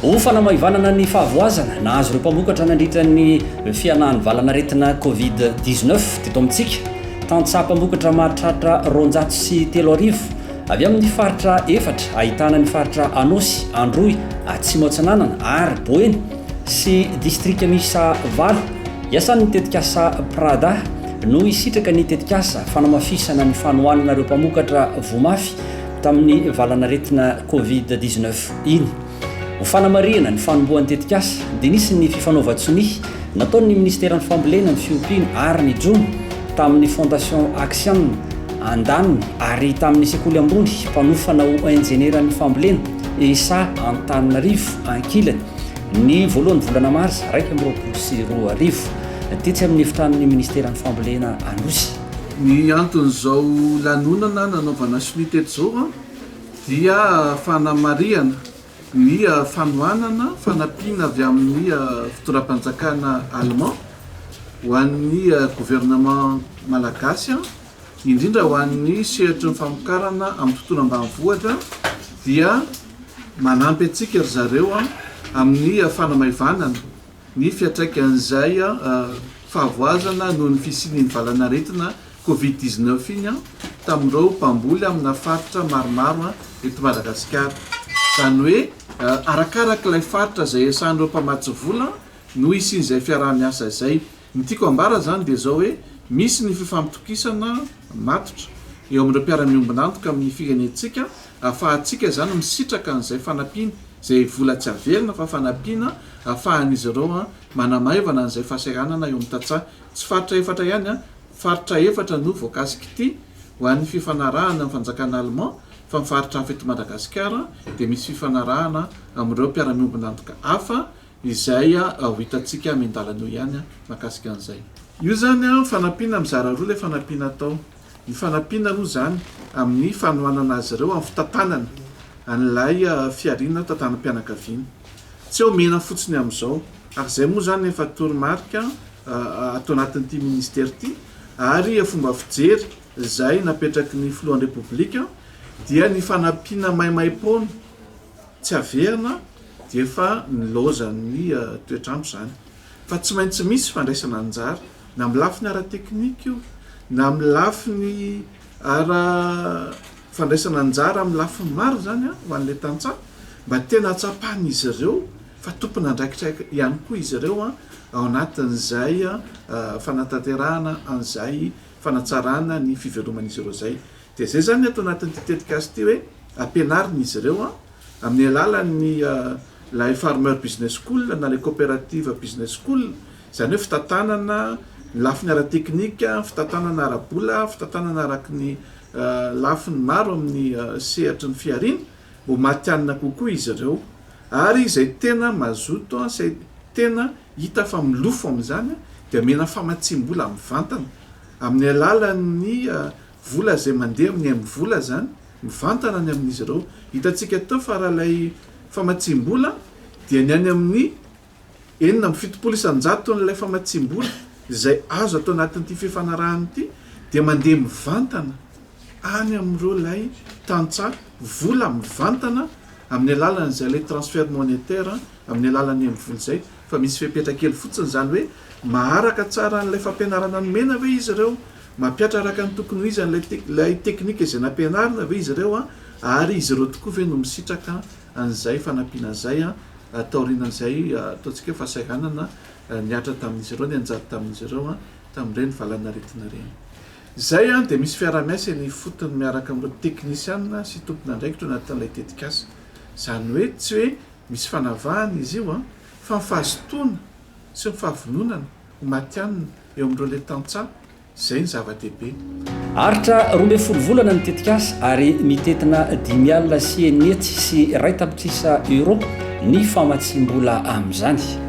Ho fanamaivanana ny fahavoazana nahazo ireo mpamokatra nandritra ny fianahan'ny valanaretina Covid 19 teto amintsika, tantsaha mpamokatra mahatratra roanjato sy telo arivo Avy amin'ny faritra efatra ahitana ny faritra Anôsy, Androy, Atsimo Atsinanana ary Boeny sy distrika miisa valo iasan'ny tetikasa PRADA no hisitraka ny tetikasa fanamafisana ny fanohanana ireo mpamokatra voamafy tamin'ny valan'aretina Covid dix-neuf iny. Ho fanamarihana ny fanombohan'ny tetikasa dia nisy ny fifanaovan-tsonia nataon'ny Minisiteran'ny Fambolena, ny Fiompiana ary ny Jono tamin'ny Fondation Axian Andan ary tamin'ny Sekoly Ambony mpanofana ho Injenieran'ny Fambolena, ESA, Antananarivo ankilany, ny voalohan'ny volana marsa iraika amby roapolo sy roa arivo, tetsy amin'ny Efitranon'ny Minisiteran'ny Fambolena Anosy. Ny anton'izao lanonana nanaovana sonia teto izao an! dia fanamarihana ny fanohanana fanampiana avy amin'ny fitondram-panjakana Allemand ho an'ny Gouvernement Malagasy, indrindra ho an'ny sehatry ny famokarana amin'ny tontolo ambanivohitra, dia manampy antsika ry zareo amin'ny fanamaivanana Ny fiantraikan'izay fahavoazana noho ny fisian'iny valanaretina covid dix neuf iny tamin'ireo mpamboly amina faritra maromaro eto Madagasikara. Izany hoe arakaraka ilay faritra izay iasan'ireo mpamatsy vola no hisian'izay fiaraha-miasa izay. Ny tiako ambara izany dia izao hoe misy ny fifampitokisana matotra eo amin'ireo mpiara-miombon'antoka amin'ny firenentsika ahafahantsika izany misitraka an'izay fanampiana. izay vola tsy averina fa fanampiana hahafahan'izy ireo manamaivana an'izay fahasahiranana eo amin'ny tantsaha. Tsy faritra efatra ihany, faritra efatra no voakasik'ity ho an'ny fifanarahana amin'ny fanjakana Allemand fa ny faritra hafa eto Madagasikara dia misy fifanarahana amin'ireo mpiara-miombon'antoka hafa Izay ho hitantsika any an-dalana eo ihany mahakasika an'izay. Io izany an, fanampiana mizara roa ilay fanampiana atao. Ny fanampiana aloha izany amin'ny fanohanana azy ireo amin'ny fitantanana an'ilay fihariana tantanam-pianakaviana. Tsy omena fotsiny amin'izao, ary izay moa izany efa toromarika ato anatin'ity minisitera ity, ary fomba fijery izay napetraky ny filohan'ny Repoblika dia ny fanampiana maimaim-poana. Tsy averina dia efa nilaozan'ny toetr'andro izany. Fa tsy maintsy misy fandraisana anjara, na amin'ny lafiny ara-teknika io, na amin'ny lafiny ara, fandraisana anjara amin'ny lafiny maro izany an, ho an'ilay tantsaha, mba tena hatsapan'izy ireo fa tompon'andraikitra ihany koa izy ireo an, ao anatin'izay fanatanterahana an'izay fanatsarana ny fiveloman'izy ireo izay. Dia izay izany ny ato anatin'ity tetikasa ity hoe ampianarina izy ireo amin'ny alalan'ny ilay Farmer Business School na ilay Cooperative Business School, izany hoe fitantanana ny lafiny ara-teknika, fitantanana ara-bola, fitantanana araka ny lafiny maro amin'ny sehatry ny fihariana, mba ho matihanina kokoa izy ireo. Ary izay tena mazoto, izay tena hita fa milofo amin'izany dia omena famatsiam-bola mivantana amin'ny alalan'ny Vola izay mandeha amin'ny aim vola izany, mivantana ny amin'izy ireo. Hitantsika teo fa raha ilay famatsiam-bola dia ny any amin'ny enina amby fitopolo isan-jaton'ilay famatsiam-bola izay azo ato anatin'ity fifanarahana ity dia mandeha mivantana any amin'ireo ilay tantsaha vola mivantana amin'ny alalan'izay ilay transfert monétaire amin'ny alalan'ny aim vola izay fa misy fepetra kely fotsiny izany hoe maharaka tsara an'ilay fampianarana nomena ve izy ireo Mampiatra araka ny tokony ho izy an'ilay ilay teknika izay nampianarina ve izy ireo ary izy ireo tokoa ve no misitraka an'izay fanampiana izay taorianan'izay ataontsika hoe fahasahiranana nihatra tamin'izy ireo, nianjady tamin'izy ireo tamin'ireny valanaretina ireny? Izay dia misy fiaraha-miasa eny ifotony miaraka amin'ireo teknisiana sy tompon'andraikitra eo anatin'ilay tetikasa. Izany hoe tsy hoe misy fanavahana izy io fa ny fahazotoana sy ny fahavononana ho matihanina eo amin'ireo le tantsaha, izay ny zava-dehibe. Aritra roa ambin'ny folo volana ny tetikasa ary mitentina dimy alina sy enina hetsy sy iray tapitrisa euros ny famatsiam-bola amin'izany.